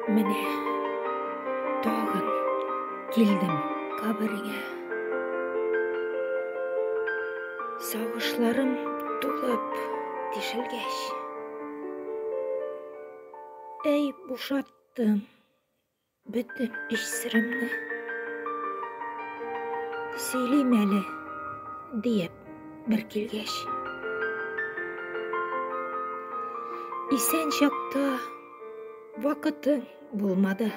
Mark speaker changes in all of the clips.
Speaker 1: Менә тагын килдем кабергә. Сагышларым тулып тишелгәч. Әй, бушаттым. Бөтен эш сыремны сөйлим әле, диеп бер килгәч. Исән чакта вакыты булмады.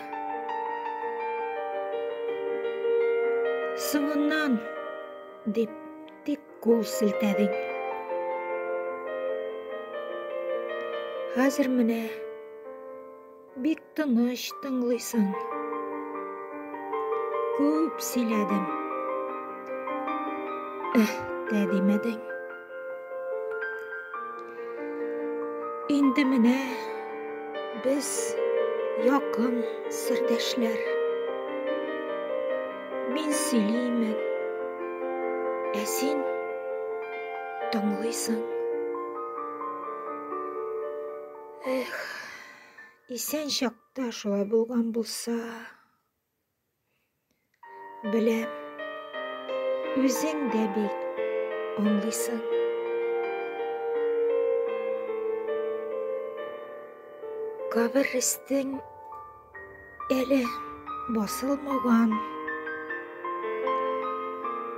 Speaker 1: Соңыннан дип тик кул селтәдең. Хәзер менә Бик тыныч тыңлыйсың. Күп сөйләдем. Эх, тә димәдең. Инде менә без якын сердәшләр. Мин сөйлимен. Ә син тыңлыйсың. Эх. Исән чакта шулай булган булса, беләм, үзең дә бик аңлыйсың. Кабер рестең әле басылмаган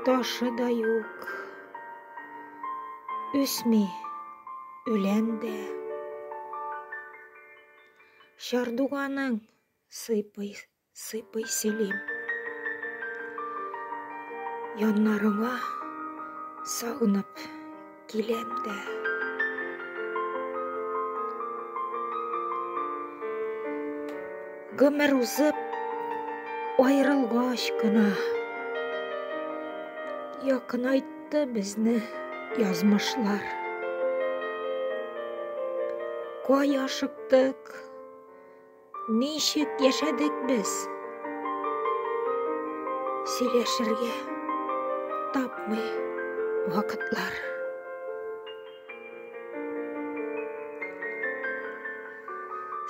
Speaker 1: ташы да юк, үсми. Үлән дә. Чардуганың сыйпый, сыйпый сөйлим. Яннарыңа сагынып киләм дә. Гомер узып аерылгач кына якынайт Ятты безне язмышлар. Кай ашыктык, ничек яшәдек без? Сөйләшергә тапмый вакытлар.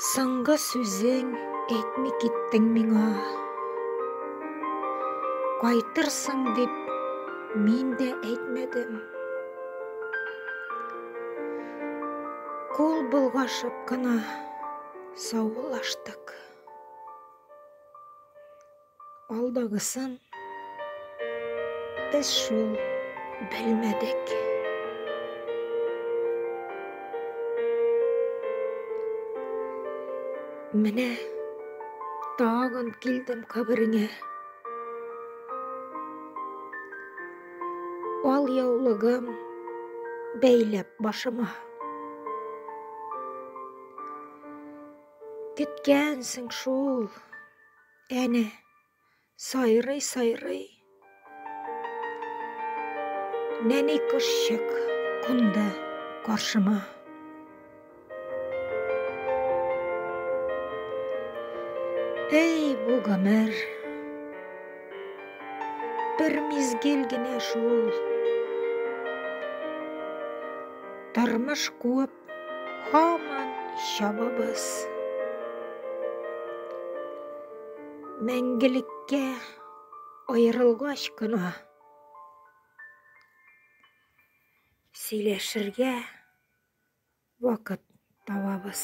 Speaker 1: Соңгы сүзең әйтми киттең миңа. Кайтырсың дип мин дә әйтмәдем. Кул болгашып кына саулаштык. Алдагысын без шул белмәдек. Менә тагын килдем кабереңә. Ал яулыгым бәйләп башыма. Көткәнсең шул Әнә, сайрый, сайрый. Нәни кошчык кунды каршыма. Эй, бу гомер. Бер мизгел генә шул. Тормыш куып Һаман чабабыз. Мәңгелеккә аерылгач кына сөйләшергә вакыт табабыз.